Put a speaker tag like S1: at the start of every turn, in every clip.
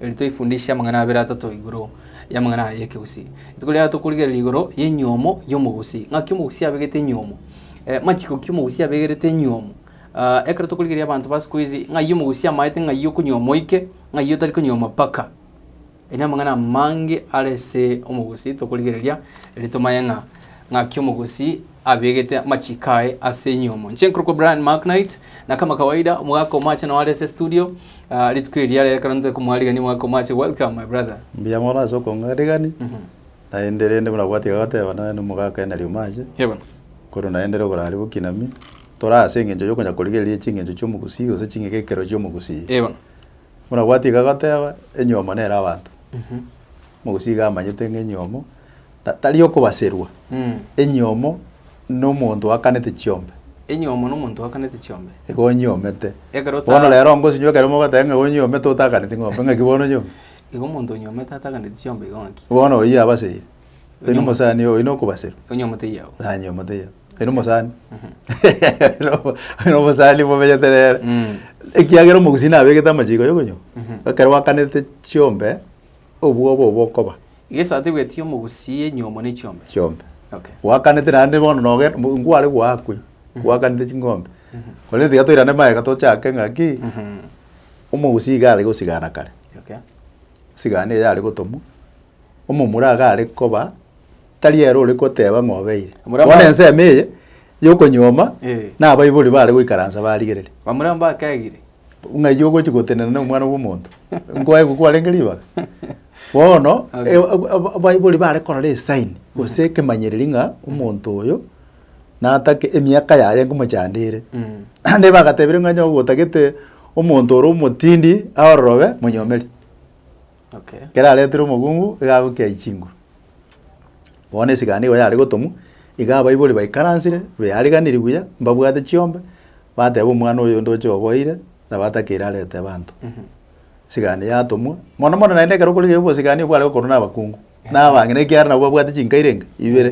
S1: Erio toifundishe amang'ana abere atato igoro y'amang'ana aya y'ekegusii. Rituko riaga tokorigereria igoro y'enyiomo y'omogusii, ng'aki omogusii abegete enyiomo, eh, machiko ki omogusii abegerete enyiomo. Ah, ekero tokorigereria abanto ba siku hizi ng'ai omogusii amaete ng'ai okonyioma oike, ng'ai otari konyioma mpaka. Aye namang'ana amange are ase omogusii tokorigereria eri tomanye ng'a ng'aki omogusii abegete amachiko aye ase enyiomo. Inche nkorokwa Brian Macknight, na kama kawaida omogaka omoache nao are ase estudio. Ah, rituko eria rero ekero ntoe komwarigania omwaka omoache, welcome my brother. Mbuya mono ase okong'arigani, naende rende buna gwatiga goteba nonya na omogaka Henry Omache, Yebo. korwa naende ere oborari bokinami, tore ase eng'encho yokonya korigereria ching'encho chi'omogusii gose ching'ika ekero chi'omogusii. Yebo. Buna gwatiga goteba, enyomo nere abanto. Omogusii iga amanyete ng'a enyomo, Ta- tari okobaserwa, enyomo nomonto oakanete chiombe, enyomo nomonto oakanete chiombe. igo onyiomete. Ekero ta- Bono rero ngosinyiwa ekero mogoteba ng'a onyiomete otakaneti ng'ombe, ng'aki bono onyomete? Igo omonto onyomete atakaneti chiombe igo ng'aki? Bono oyio abaseire, oyio Onyomo- nomosani oyio nokobaserwa, Onyomete iyao. nanyomete iyao, oyio nomosani. Oyio nomosani momenyete nere. Mm. Ekiagera omogusii nabegete amachiko yokonywa. Mhm. Ekero gwakanete chiombe, obwo obo bokoba. Iga esato egwetie omogusi enyomo ne chiombe. Chiombe. Okay. Gwakanete naende bono noge nkware gwakwe. Gwakanete ching'ombe. Korende tiga toirane magega tochake ng'aki omogusi iga are gosigana kare. Okay. Sigana eye are gotomwa. Omomura iga are koba tari ere ore goteba ng'a obeire. Omura Bono ensemo eye yokonyuoma. Nabaibori bare goikaransa barigereri. Bamura mbakegire. Ng'a eyio ogochi gotenena na Omwana bw'omonto, nkoe igo kwarenge ribaga? Bono Okay. e- ab- ab- abaibori bare korora esign gose ekemanyereri ng'a omonto oyo natake emiaka yaye nkomochandere. Mm. Naende bagatebirie ng'a onye ogotagete omonto ore omotindi aororobe, monyomeri. Okay. Ekero aretire omogungu, iga agokia aye chinguru. Bono esigani nigo yare gotomwa, iga abaibori baikaransire, beariganirie buya, mbabwate chiombe, bateba omwana oyo onde oche oboeire, nabo atakeire arete abanto. Esigani yatomwa, mono mono naende ekero okorigereria obosigani obwo bware gokorwa na abakungu. Nabang'ina ekiagera nabo babwate chinkairo enga? Ibere.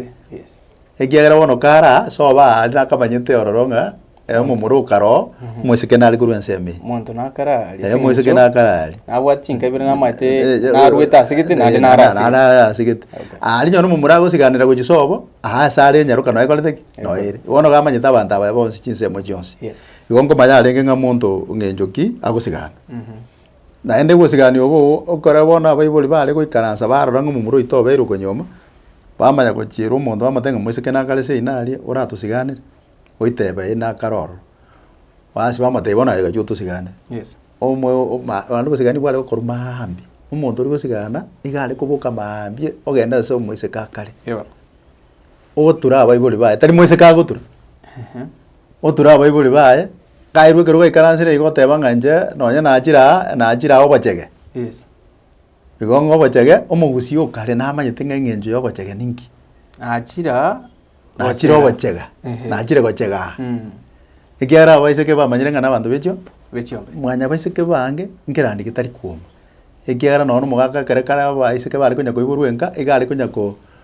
S1: Ekiagera bono kare aa, ase oba aa aria nakamanyete ororo ng'a eh, omomura okare oo, omosike nare korwa ensemo eye. Monto nakare aria Eh, ase omosike eng'encho nakare aria. nabwati chinka ibere namaete narwete ase gete naende nare ase gete. Nare ase gete. Aria nonye omomura agosigaanera gochia sobo, aa ase are enyaroka noe ekorete ki? Noe ere. Bono iga amanyete abanto abaya bonsi chinsemo chionsi. Yes. Igo nkomanya arenge ng'a monto ng'encho ki agosigaana. Naende gosigania obo okore bono abaibori baare goikaransa barora ng'a omomura oito obeire okonyuoma, bamanya gochierwa omonto bamotebia ng'a moiseke nakare seino aria oratosiganere, oiteba ee nakare ororo. Bas bamotebia bono aye gachi otosiganere. Yes. Omoyo oma naende obosigani bware gokorwa maambi, omonto ori gosigana iga are koboka maambia ogenda ase omoiseke akare. Eeh. ogotura abaibori baye, tari moiseke agotura, otura abaibori baye, kairwa ekero gaikaransire igo oteba ng'a inche nonye nachire aa, nachire aa obochege. Yes. Igo ng'a obochege, omogusii o kare namanyete ng'a eng'encho y'obochege ninki. Nachire aa, Nachire ogochega, Ehe. nachire gochega aa. Mm. Ekiagera abaiseke bamanyire ng'a nabanto bechio, Be chiombe. mwanya baiseke bange nkerande getari kwoma. Ekiagera nonye na omogaka ekero kare abaiseke bare konya koiborwa enka, iga are konya ko.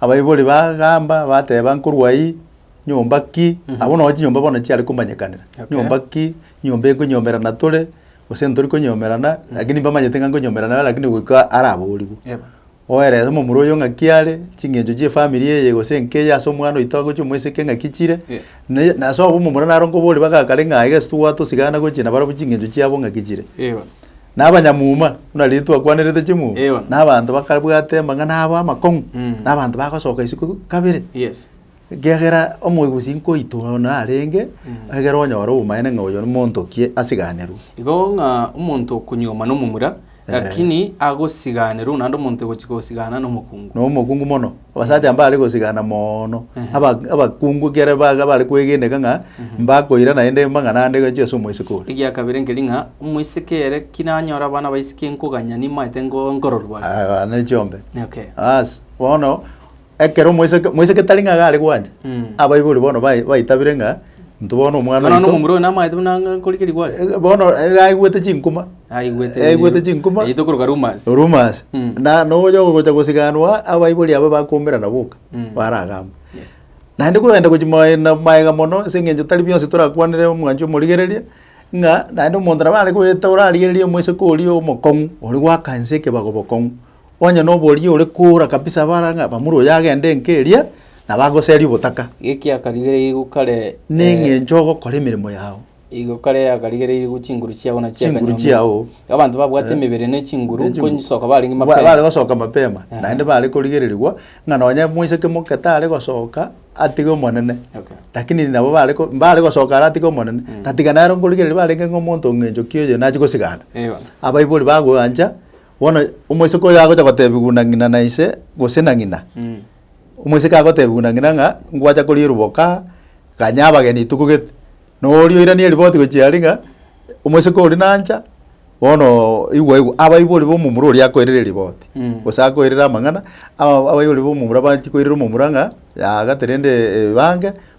S1: Abaibori bagamba bateba nkorwa ayio nyomba ki, abwo nabo chinyomba bono chiare komanyekanera. Okay. Nyomba ki, nyomba ekonyomerana tore, gose ntori konyomerana, lakini mbamanyete ng'a nkonyomerana nere lakini goika araborigwe. Yep. Oerese omomura oyo ng'aki are, ching'encho chia efamiri eye gose enka eye ase omwana oito agochia omoiseke ng'aki chire, Yes. naye nase obwo omomura naro nkoborie bagakare ng'a aye gese togwatosigana gochia nabarabwo ching'encho chiabo ng'aki chire. Eeh. Na abanyamuma, buna riria twakwanerete chimuma, Eyo. na abanto bakabwate amang'ana abo amakong'u, Mm. na abanto bagasoka isiko kabere. Yes. Ekiagera omoegusi nkoito one arenge, egere onyore obomaene ng'a oyo nimoontokie asiganerwe. Igo ng'a omonto okonyuoma nomomura, lakini agosiganerwa naende omonto ogochika gosigana nomokungu. Nomokungu mono. Abasacha mbare gosigana moono, aba abakungu ekere baga bare kwegeneka ng'a mbakoira naende amang'ana ande gochia ase omoiseke ore. Egia kabere nkeri ng'a, omoiseke ere kinanyore abana baisike nkoganya nimaete ngo nkororwa are. Aya ne chiombe. Okay. Aase, bono ekero omoiseke, moiseke tari ng'a iga are gwancha, Mm. abaibori bono bai- baitabire ng'a. Intwe bono omwana Bono oito- omomura oyo namaete buna ang'e nkorike rigwari. Eh, bono eh, aigwete chinkuma Aigwete aigwete chinkuma Yaito koroka rumors. rumors Mm. na nonya ogocha gosiganwa abaibori aba bakomerana boka Mm. baragamba Yes. naende kogenda gochi mae- na- maega mono ase eng'encho tari bionsi torakwanere omwancho omorigereria ng'a naende omonto nabo are goeta orarigereria omoiseke oria omokong'u oria gwaka ense ekebago bokong'u. Onye noboria ore koora kabisa abare ang'e abamura oyo agende enka eria, nabo agoseria obotaka. Geki akarigereiri gokare Neng'encho ogokora emeremo yao. Igo kare akarigereiri gu chinguru chiabo na chia Chinguru kanyombi. chiao. Abanto babwate emebere ne chinguru Ne chinguru. konyisoka barenge Ba- bare mapema. gosoka mapema Aha. naende bare korigererigwa ng'a nonye moiseke moke tare gosoka atige omonene Okay. lakini nabo bare ko- mbare gosoka ara atige omonene tatiga nero nkorigereria barenge ng'a omonto ng'encho ki oyo nachi gosigana Ewana. abaibori bagoancha. Bono omoiseke oyo agocha gotebigwa na ng'ina na ise, gose na ng'ina, omoiseke agotebigwa na ng'ina ng'a ngwacha koria eriboka, ganya abageni tokogete. Na oria oirania eriboti gochia aria ng'a omoiseke oria nancha, bono igwa igwa, abaibori ba omomura oria akoirera eriboti, gose akoirera amang'ana, aba abaibori ba omomura baanchi koirera omomura ng'a yagaterende ebange,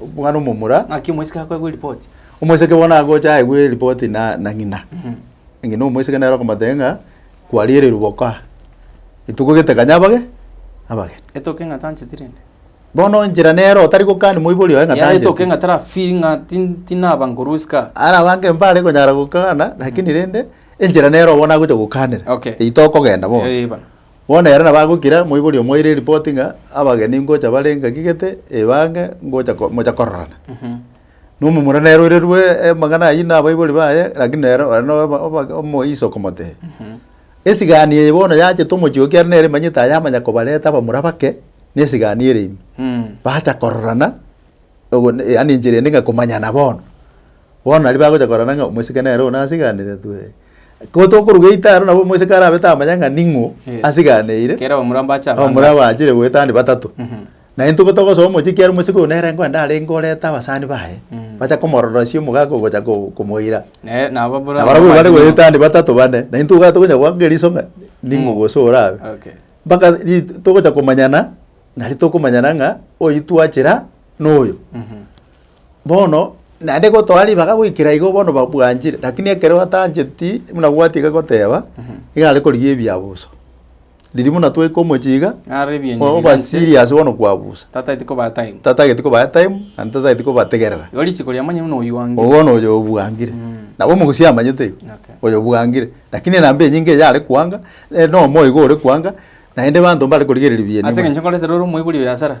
S1: Omwana omomura. Ng'aki omoiseke akoegwa eripoti? Omoiseke bono agocha aegwe eripoti na na ng'ina. Ng'ina omoiseke nere okomotebia ng'a, kwariererwe boko aa, etuko gete kanya abage abageni. Etoke ng'a tancheti rende. Bono enchera nere otari gokani moibori oye ng'a Yare tancheti. etoke ng'a tara feel ng'a tin- tinaba nkorwa isiko aa. Arabange mbare konyara gokana, lakini rende, enchera nere obono agocha gokanera. Okay. Eitwe okogenda bono. Eeh bana. Bono ere nabagokira, moibori omoeire eripoti ng'a abageni ngocha bare ngaki gete, eba ang'e, ngocha ko mocha kororana. Nomomura nere oirerwe amang'ana ayio na abaibori baye, lakini nere ore na oba- oba- omoiso okomotebia. Esigani eye bono yachete omochie oo ekiagera nere emanyete aye amanya kobareta abamura bake, na esigani ere ime. Bacha kororana, ogo- yaani enchera ende ng'a komanyana bono. Bono aria bagocha korora ng'a omosike nere one asiganeretwe, ko tokoruga eita aro nabo omosike arabe tamanya ng'a ning'o Yes. asiganeire. Ekero omura mbache abande Omura aba. bwachire goetania batato. Mhm. Naende ntuko togosoa omochie ekiagera omosike oyo nere nkoende arenge oreta abasani baye, Mm. bacha komororosia omogaka ogocha ko- komoira. Naye nabo buna Na barabwo bare goetania batato bane, naintwe iga tokonya goaka eriso ng'a ning'o Mm. gose orabe. Okay. Mpaka ri togocha komanyana, nari tokomanyana ng'a oyi twachera noyo. Mhm. Bono naende gotoa ribaga goikera igo bono babwanchire, lakini ekero atancheti buna bwati iga goteba, iga are korigia ebiabo uso. Riria buna twaika omochie iga, Ng'are ebienyi o- oba biganche. serious bono kwabusa. Tataeti kobaa time. Tatageti kobaa time, naende tatageti kobategerera. Igo risiko riamanye buna oywange. Obo bono oyo obwangire. Mm. Nabo omogusia amanyete igo, Okay. oyo obwangire. Lakini enamba enyinge eye are kwanga, eh, na omoyo iga ore kwanga, naende abanto mbare korigereria bieni Ase mono. eng'encho nkorete rore omoibori oyo asara.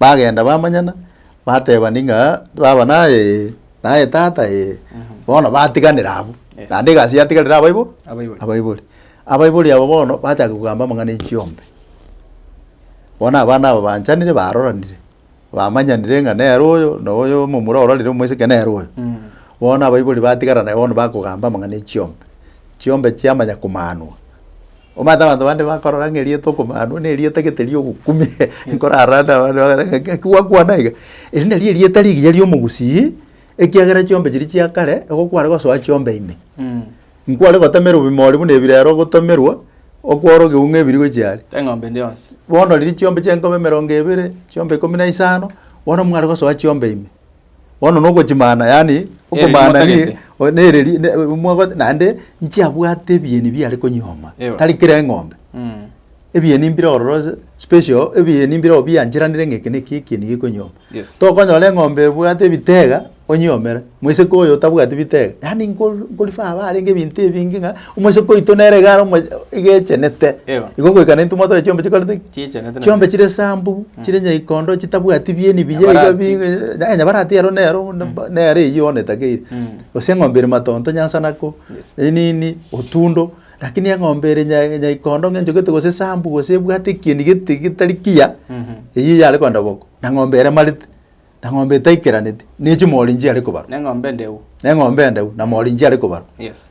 S1: Bagenda bamanyana, batebani ng'a baba naye ee, naye tata ee, bono batiganera abwo. Yes. Naende egasi yatigarire abaibo Abaibori. abaibori. Abaibori aba bono bachaka kogamba amang'ana ya chiombe. Bono abana aba banchanire baroranire, bamanyanire ng'a nere oyo na oyo omomura ororire omoiseke nere oyo. Mm. Bono abaibori batigarana bono bakogamba amang'ana ya chiombe. Chiombe chiamanya komanwa. Omanyete abanto bande bakorora ng'a erieta okomanwa nerieta gete riogokumia nkorara ande abande bagoteba ng'a ng'aki gwakwana iga. Eri nari erieta rigiya ri'omogusii, ekiagera chiombe chiria chia kare nigo kware gosoa chiombe ime. Nkware gotemerwa ebimori buna ebi rero ogotemerwa, okore ogeunga ebiri gochia are. Eng'ombe ende yonsi. Bono riria chiombe chiaye nkoba emerongo ebere, chiombe ikomi na isano, bono mware gosoa chiombe ime. Bono nogochimana, yaani Ereri okomana ni mwatagete. o- nereri ne- mwago- naende nchiabwate ebieni biare konyuoma, Ewe. tari kera eng'ombe. Mm. Ebieni mbire ororo ase special, ebieni mbire obiancheranire ng'a eke na eke ekieni gekonyuoma. Yes. Tokonyora eng'ombe ebwate ebitega onyiomere, moiseke oyo otabwati bitega, yaani nko- nkorifa abare ng'ebinto ebinge ng'a. Omoiseke oito nere iga are omo iga echenete, Eyo. igo goika naintwe mwatore chiombe chikorete ki? Chiechenete na Chiombe chire esambu, chire nyaikondo, chitabwati bieni biya iga Nyabarati. bi eh, nyabarati ero nero ne mba nere eywo one takeire. Mm. Gose eng'ombe ere matonto nyansanako, Yes. enini, otundo, lakini eng'ombe ere nya nyaikondo ng'a enchogete gose esambu gose ebwate ekieni gete getari kiya, Mhm. eyio yare kogenda boko, na ng'ombe ere emarete, na ng'ombe etaikeraneti, ne chimori nchiare kobarwa, Neng'ombe endeu. na eng'ombe endeu, na mori nchiare kobarwa. Yes.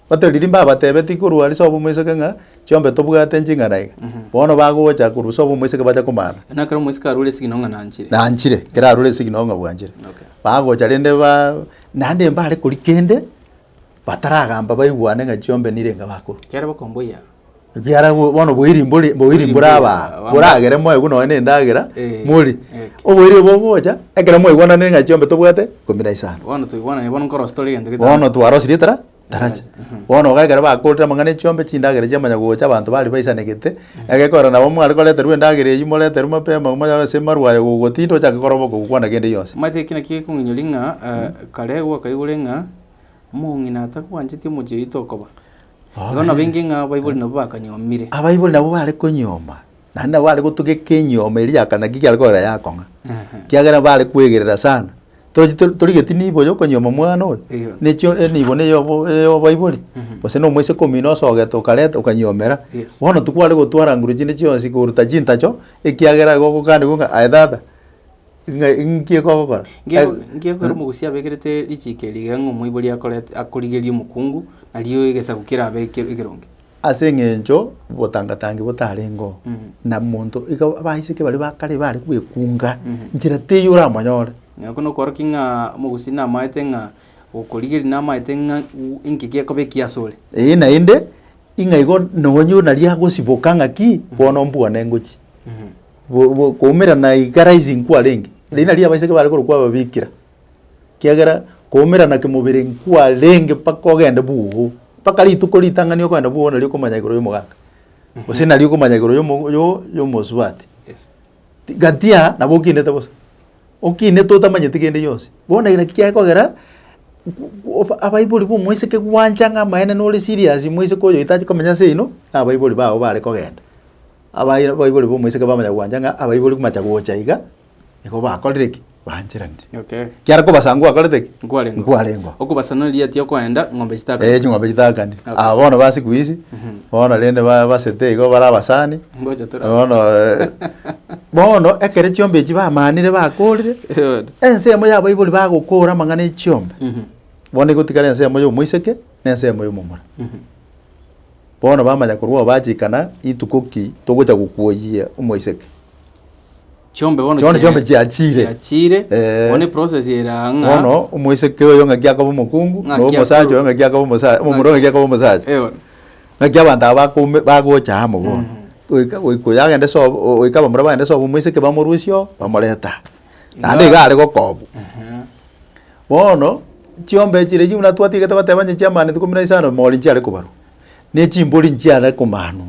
S1: Batari rimbe abatebetie korwa ase obwomoiseke ng'a, Chiombe tobwate nching'ana iga. Bono bagocha korwa ase obwomoiseke bacha komana. Buna ekero omoiseke arure esigino ng'a nanchire. Nanchire, ekero arure esigino ng'a bwanchire. Okay. Bagocha rende ba naende mbare koria kende, bataragamba baigwane ng'a chiombe nire enga bakorwa. Kiare bakomboyia. Ekiagera bo- bono boiri mbori- boiri mbore aba, Aba- boragere moegwe nonye na endagera, Eh, mori. eh. Oboiri obo bogocha, ekero mwaigwananire ng'a chiombe tobwate, kumira isano. Bono toigwanane bono nkorosia tore egento gete- Bono twarosirie tara, tarachi. Bono iga ekero bakorire amang'ana echiombe, chindagera chiamanya gocha, abanto baria baisanegete, egekogera nabo mware koreterwa endagera eywo moreterwe mapema monyore ase maru aye gogotinda ochake kora oboke gokwana kende gionsi. Omanyete eki nakio gekong'inyoria ng'a eh, kare gwakaigure ng'a, omong'ina atakwancheti omochie oito okoba. Igo nabo inki ng'a abaibori nabo bakanyomire? Abaibori nabo bare konyoma, naende nabo bare gotugeka enyomo eria ya kana ki kiare korora yakong'a, ekiagera bare kwegerera sana. Tochi tori torigeti nibo ya okonyoma omwana oyo, Eyo. na echio enibo na eyobo eyo obaibori, gose na omoiseke omino osogete okareta okanyomera, Yes. bono tikware gotwara nguru chinde chionsi koruta chintacho, ekiagera igo ogokaniwa ng'a aye tata. Ng'a inki ekogokora? Nge- Ag- Ngekwera omogusia abekerete richiiki eri igere ng'a omoibori akorete akorigereria omokungu, nario egesaku kerabe eke- ekeronge. Ase eng'encho botangatangi botarengeo, Mhm. na monto iga abaiseke baria ba kare bare kwekunga, Mhm. nchera teiyo oramonyore. Na oko nokworokia ng'a omogusi namaete ng'a okorigeri namaete ng'a u- inki gekoba ekiya ase ore. Eeh naende, ing'a igo nonye oyio nari agosiboka ng'aki, bono mbwane ngochia. Mhm. Go- go- koumera na iga rising kwarenge, riria nario abaiseke bare korokwa ababikira, ekiagera koumera na kemobere nkwarenge mpaka ogende bwogo, mpaka rituko ritang'ani okogenda bwogo nario okomanya igoro ya omogaka, gose nario okomanya igoro ya omo- yo- ya omosubati. Yes. Ti- gatia nabo okinete bosa, okinete otamanyeti kende gionsi. Bono ere naki kiakogera gu- gu- oba- abaibori ba omoiseke gwancha ng'a amaene nore serious moiseke oyo otache komenya ase oino, na abaibori bao bare kogenda. Abaibori b'omoiseke bamanya gwancha ng'a abaibori komacha gocha iga, nigo bakorire ki? Baancheranire. Okay. Kiara kobasa ng'a nkwarete ki? Nkwarengwa. Nkwarengwa. Okobasana riatia okoenda ng'ombe chitaka. Eh, ching'ombe chitagani. Okay. Aba bono ba siku hizi, bono rende ba- basete igo bare abasani. Ngocha tora. Bono eh, bono ekere chiombe echi bamanire bakorire, Eod. ensemo ya abaibori bagokora amang'ana ya chiombe, Mhm. bono igotigara ensemo ya omoiseke, na ensemo ya omomura. Mhm. Bono bamanya korwa obachikana rituko ki togocha gokuoyia omoiseke. Chiombe bono Chiona chiombe chiachire. chiachire Eh. bono eprocess ere aa ng'a Bono omoiseke oyo ng'aki akoba omokungu, Ng'aki na omosacha akorwa- oyo ng'aki akoba omosa- omomura oyo ng'aki akoba omosacha. Eh, bono. Ng'aki abanto aba bakoume- bagocha amo bono. Goika- goika oyo agende sobo, o- goika abamura bagende sobo omoiseke bamorusie oo, bamorete aa. Naende Iga- iga are gokobwa. Ehe. Bono, chiombe echi riaria buna twatigerete goteba onye chi'amani ikomi na isano, mori nchiare kobarwa, ne chimbori nchiare komanwa.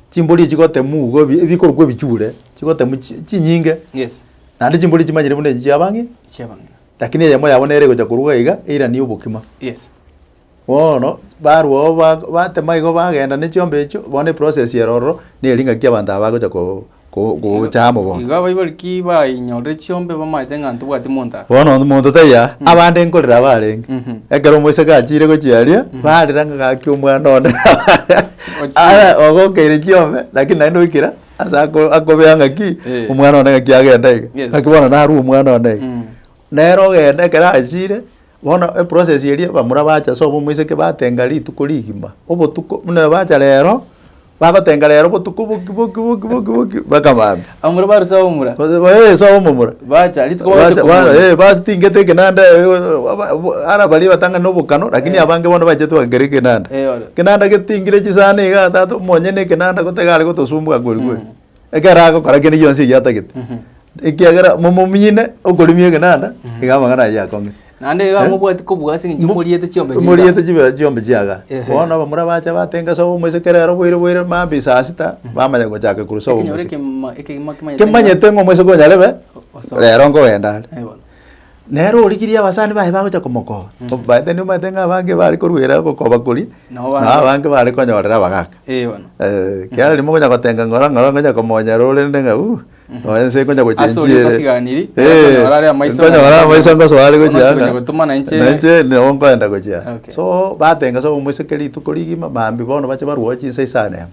S1: Chimbori echi gotemwa iga ebi- ebikorokwa ebichure, chigotemwa chi- chinyinge, Yes. naende chimbori echi manyire buna echi chiaba ng'ina. Chiaba ng'ina. Lakini eyemo yabo nere egocha korwa iga, eiranie obokima. Yes. Bono barwo oo ba batema igo bagenda ne chiombe echio, bono eprocess ere ororo, nere ng'aki abanto aba bagocha ko- ko- gocha amo bono. Igo abaibori ki bainyorire chiombe bamaete ng'a ntobwati monto aa? Bono omonto taiyo aa, abande nkorera abarenge. Mhm. Ekero omoiseke achiire gochia aria, barera ng'a gaki omwana one Ochire. Ara ogokeire chiombe, lakini naende oikire ase ako akobea ng'aki, Eh. omwana one ng'aki agenda iga. Yes. Ng'aki bono narue omwana one iga. Mm. Nere ogenda ekero achiire. Bono eprocess eria bamura bacha ase obo omoiseke batenga rituko rigima, obotuko buna bacha rero, bagotenga rero obotuko boki boki boki boki boki mpaka maambia. Abamura barure ase abamura. Ee ase abamura. Bacha rituko bagocha komoria. Ee bastingete ekenanda ara baria batang'ani na obokano lakini abange bono bachete bagakera ekenanda. Ekereoro. Ekenanda getingire chisani igaa tata omonyene ekenanda gotega are gotosumbua kweri kweri. Ekero agokora kende gionsi eki atagete, ekiagera momomine okorimia egenanda, iga amang'ana ayio akong'e. Naende iga Eh? mobwati kobua ase eng'encho Mo- moriete chiombe chiga. Moriete chibe chiombe chiaga. Ehe. Bono abamura bacha batenga sobo omoiseke rero boire boire mambi saa sita, bamanya gochaka korwa sobo Ekenyoro omoiseke. ekema- ekegima kimanyete ng'a- Kimanyete ng'a omoiseke onyarebe, osoe. rero nkogenda are. Eh, bono. Nere origirie abasani baye bagocha komokoba, omanyete nigo omanyete ng'a abange bare koruera ogokoba koria, Nao na bande- abange bare konyorera abagaka. Eh, bono. Eh, kiara rimo okonya gotenga ng'ora ng'ora ngonya komonyera orende ng'a uh, nonya ense ekonya gochia Ase oria enchiere. otasiganiri, Eh, okonyora are amaiso ng'a nkonyora amaiso ngoso are gochia Omochie anga. konya gotuma na inche- Na inche nabo nkoenda gochia. Okay. So, batenga so omoiseke rituko rigima, mambia bono bache barwao chinsa isano emo.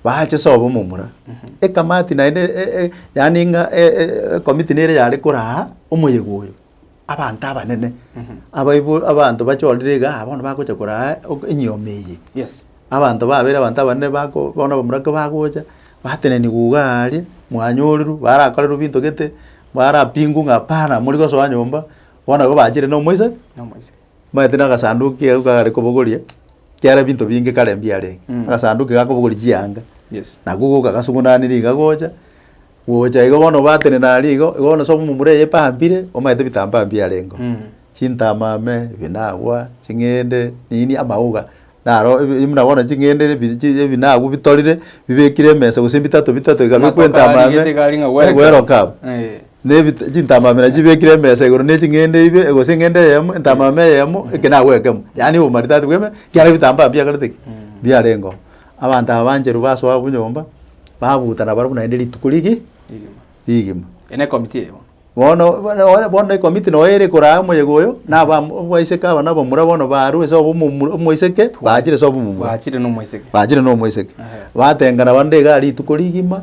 S1: bache sobo omomura, ekamati naende e- e- yaani ng'a e- e- ekomiti nere yare koraa omoyega oyo, abanto abanene abaibo abanto bachorire igaa ah bono bagocha koraa ok enyiomi eye. Yes. Abanto babere abanto abanene bako bono abamura kobagocha, bateneniwa igaa aria, mwanyorerwa, barakorerwa ebinto gete, barapingwa ng'a hapana mori gosoa nyomba, bono igo bachire na omoisa, Nomoisa. bamanyete na agasanduku kiabo kare kobogoria. Ekiagera ebinto binge kare mbiarenge, Mm. agasanduki gaka obogori chianga, Yes. nako goka gasung'unanire iga gocha, gocha igo bono obatenena aria igo, igo bono sobo momura eye epampire, omanyete ebitambaa mbiarengo. Mm. Chintama ime, ebinagwa, ching'ende, nini, amauga, naro ebi- buna bono ching'ende ebi- chi- ebinagwa bitorire, bibekire emesa gose bitato bitato, ekabekwa Amatoke entama ime, arigete iga ari ng'a welcome. welcome. Eh. Nebit chintamamera chibekire emesa igoro ne ching'ende ibe, gose eng'ende eyemo, entamama eyemo, eke nabo ekemo, yaani obomaridadi bw'eme, ekiagera ebitambaa mbiakorete ki? Mbiarenge oo. Abanto abancheru basoa abwo nyomba, babutana barabwo naende rituko rigi rigima. Eye ne committee eye bono. Bono bono bono bono ne committee noyo ere koraa omoyega oyo, na aba abaiseke aba na abamura bono baarure sobo omomura omoiseke, baachire sobo omomura. Baachire na omoiseke. Baachire na omoiseke. Ehe. Batengana naende igaa rituko rigima.